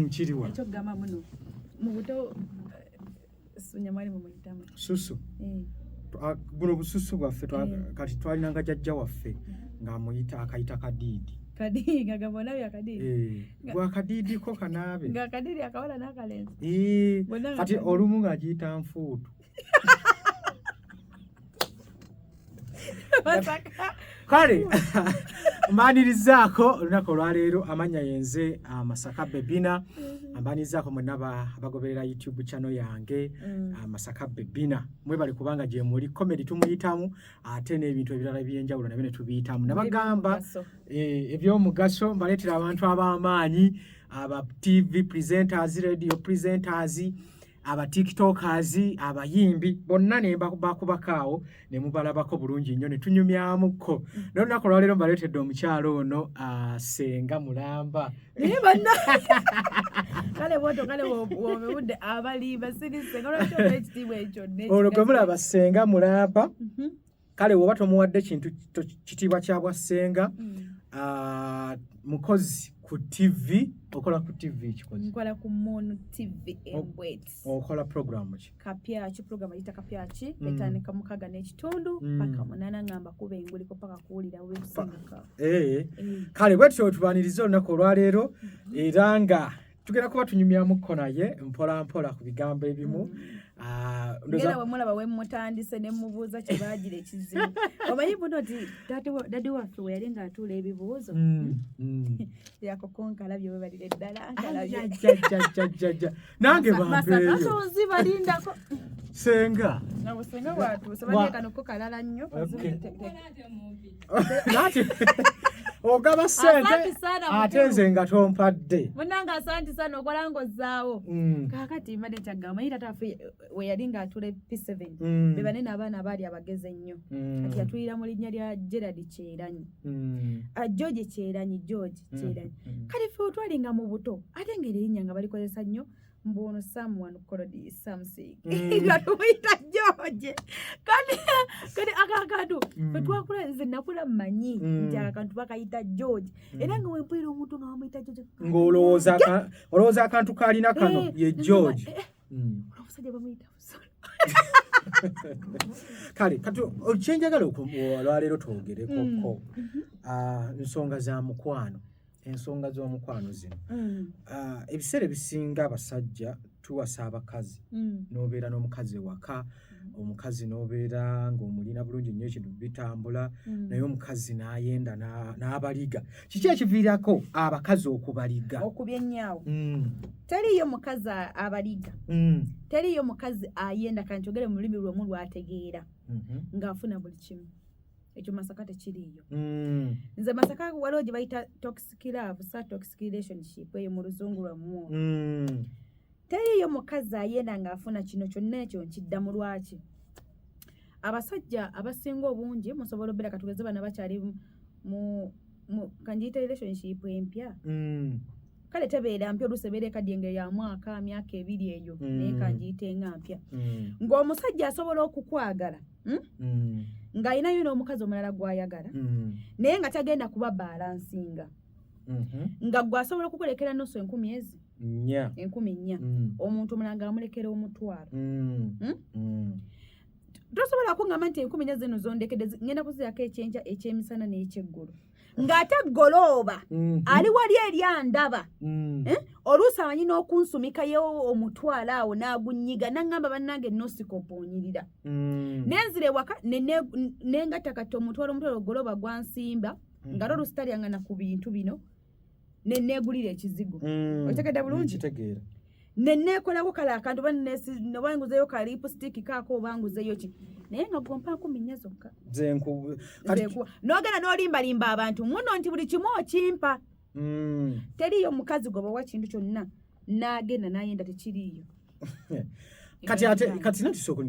kiriwa ekyokugamba muno mu buto sunyamwali mumuyitamu susu eh. ah, buno bususu bwaffe eh. kati twalinanga jajja waffe eh. ng'amuyita akayita kadiidi gwakadiidi ko kanaabe kati olumu ng'agiyita nfuutu kale mbanirizaako olunaku olwaleero amannya yenze ah, masaka bebina mm-hmm. mbanirizaako mwena abagoberera youtube channel yange mm. ah, masaka bebina mwebale kubanga gyemuli comedy tumuyitamu ate n'ebintu ebirala ebyenjawulo nabyo netubiyitamu nabagamba eh, ebyomugaso mbaleetera abantu ab'amaanyi aba tv presenters radio presenters aba tiktokers abayimbi bonna ne bakubakaawo ne mubalabako bulungi nnyo ne tunyumyamuko naye olunaku olwaleero mbaleetedde omukyalo ono asenga mulamba naye banna kale bwoto kale wobewudde abali basirise olwo gwe mulaba senga mulamba mhm. kale woba tomuwadde kintu kitiibwa kya bwa ssenga mm. ah, mukozi ku tv okola ku tv ekikozinkola ku moon tv embwet okola programu ki kapyaki programu ayita kapyaki mm. etandika mukaga n'ekitundu mm. paka munana ngamba kuba enguliko paka kuwulira webisinduka eh. eh. kale bwetyo tubaniriza olunaku olwaleero mm-hmm. era nga tugenda kuba tunyumyamukko naye mpolampola ku bigambo ebimu mm. ah, era wemulaba wemutandise nemubuuza kyebagira ekizibu omanyi buno ti dadi waffe weyali nga atuula ebibuuzo mm, mm. yakukonkalabye webalira eddala nkalabyejajajajajja nange bambeeyozibalindako senga senga watuuse baekanokokalala nnyo nati ogaba sente ate nze nga tompadde munange asanti sana okola ngozaawo mm. kakati mbadde kyagamba yira tafe weyali nga atula p7 mm. bebanene abaana abaali abagezi ennyo mm. kati yatulira mu linnya lya gerard kyeranyi ah, george kyeranyi george kyeranyi kale fe otwalinga mu buto ate nga erinya nga balikozesa nnyo mbu ono someone called something mm. nga tumuyita george kati kati akakantu mm. fetwakula nze nakula manyi mm. nti akakantu bakayita george era nga wempulira omuntu nga bamuyita george ngaolowooza akantu kalina kano eh, ye george eh, eh. omusajja bamuyita kale kati kyenjagala olwaleero twogerekoko mm-hmm. ah, nsonga za mukwano ensonga z'omukwano zino mm. ah, ebiseera ebisinga abasajja tuwasa abakazi mm. n'obeera n'omukazi ewaka mm. omukazi n'obeera ng'omulina bulungi nnyo ekintu bitambula naye omukazi n'ayenda n'abaliga kiki ekiviirako abakazi okubaliga okuba ennyawo teriyo mukazi abaliga teriyo mukazi ayenda kanti ogere mu lulimi lw'omu lwategeera mm-hmm. ng'afuna buli kimu ekyo masaka tekiriiyo mm. nze masaka waliwo gye bayita toxic love sa toxic relationship eyo mu luzungu lwamu mm. teriiyo mukazi ayenda ng'afuna kino kyonna ekyo nkidda mu lwaki abasajja abasinga obungi musobola obeera katugeze bana bakyali mu kangiyita relationship empya mm. kale tebeera mpya oluusi ebeera ekaddiye nga ya mwaka myaka ebiri eyo mm. naye kangiyite nga mpya mm. ng'omusajja asobola okukwagala hmm? mm. ng'alinayo n'omukazi omulala gw'ayagala naye nga tagenda kuba balansinga mm-hmm. nga gwe asobola okukulekera nusu enkumi ezi enkumi nnya omuntu omulala nga amulekera omutwalo hmm? tosobola kungamba nti enkumi nnya zino zondekedde ngenda kuzirako ekyenkya ekyemisana n'ekyeggulo ng'ate golooba mhm. ali wali eri andaba mm. eh? oluusi amanyi n'okunsumika ye omutwalo awo n'agunyiga naŋŋamba bannange nosika okuonyirira mm. nenzira ewaka nengatta kati omutwalo omutwalo golooba gwansimba mm. nga lwo oluusi talyangana ku bintu bino ne neegulira ekizigo mm. otegedde bulungi kitegeera ne neekolako kale akantu oba oba nguzeyo ka lipusitiiki kaako oba nguzeyo ki naye nga gwompaako minnya zokka n'ogenda n'olimbalimba abantu muno nti buli kimu okimpa mm. teriyo mukazi gwe bawa kintu kyonna n'agenda n'ayenda tekiriiyo kati ate kati natusooka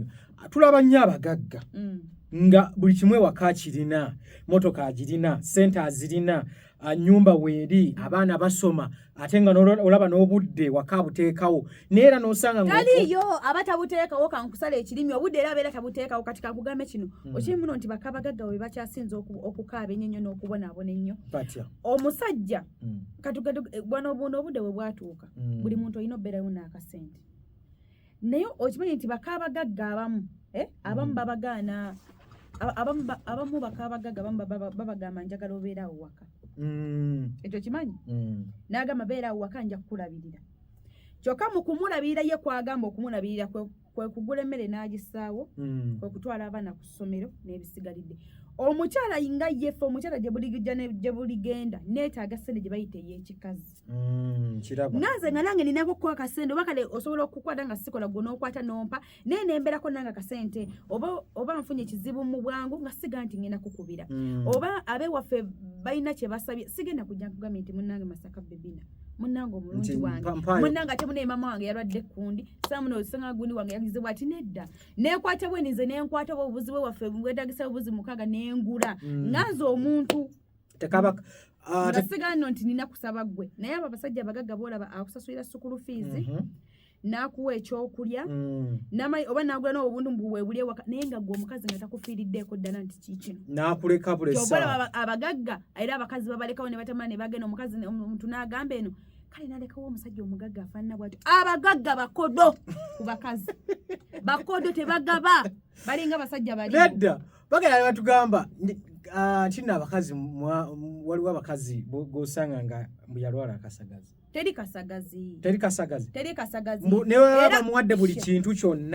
tulaba nnyo abagagga mm. nga buli kimu ewaka kirina motoka agirina sente azirina nyumba weeri abaana basoma ate nga olaba n'obudde waka buteekawo naye era n'osanga taliyo aba tabuteekawo kankusala ekirimi obudde era abeera tabuteekawo kati kakugambe kino hmm. okiri muno nti bakabagagga we bakyasinza okukaaba ennyo nnyo n'okubonaabona ennyo omusajja hmm. katugende eh, bwana obuno obude we bwatuuka mm. buli muntu olina obeerayo n'akasente naye okimanyi nti bakaabagagga abamu eh? abamu mm. babagaana abamu bakaabagagga abamu babagamba njagala obeera awo waka mm. ekyo kimanyi mm. n'agamba beera awo waka nja kukulabirira kyokka mu kumulabirira ye kwagamba okumulabirira kwe kugula emmere n'agisaawo mm. kwe kutwala abaana ku ssomero n'ebisigalidde omukyala nga yefe omukyala gyebuligijja gyebuligenda neetaaga sente gye bayita ey'ekikazi mm, nanze nga nange ninako okukuwa akasente oba kale osobola okukwata nga sikola gwe n'okwata n'ompa naye nemberako nange akasente oba oba nfunye ekizibu mu bwangu nga siga nti ngenda kukubira mm. oba abewaffe balina kye basabye sigenda kujja nkugambye nti munange masaka bebina munange omulungi wange munange ate munaye mama wange yalwadde kundi samuno osanga gundi wange yagize bwati nedda nekwata bwe nize nenkwata bwe obuzibu waffe bwetagisa obuzi mukaga nengula mm. nganze omuntu tekaba ah, ngasigano nti nina kusaba gwe naye abo abasajja abagagga bolaba akusasulira sukulu fiizi mm-hmm. n'akuwa ekyokulya mm. namanyi oba nagula nawe obuntu mbuwebuli ewaka naye nga gwe omukazi nga takufiiriddeeko ddala nti kikino nakuleka bulesa abagagga era abakazi babalekawo ne batamala ne bagenda omukazi omuntu n'agamba eno kale nalekawo omusajja omugagga afaanana bwati abagagga bakodo ku bakazi bakodo tebagaba balinga basajja balinedda bagenda ne batugamba ah, nti nno abakazi waliwo abakazi gosanga nga mbuyalwala akasagazi teri kasagazi teri kasagazi teri kasagazi mbu newe bamuwadde buli kintu kyonna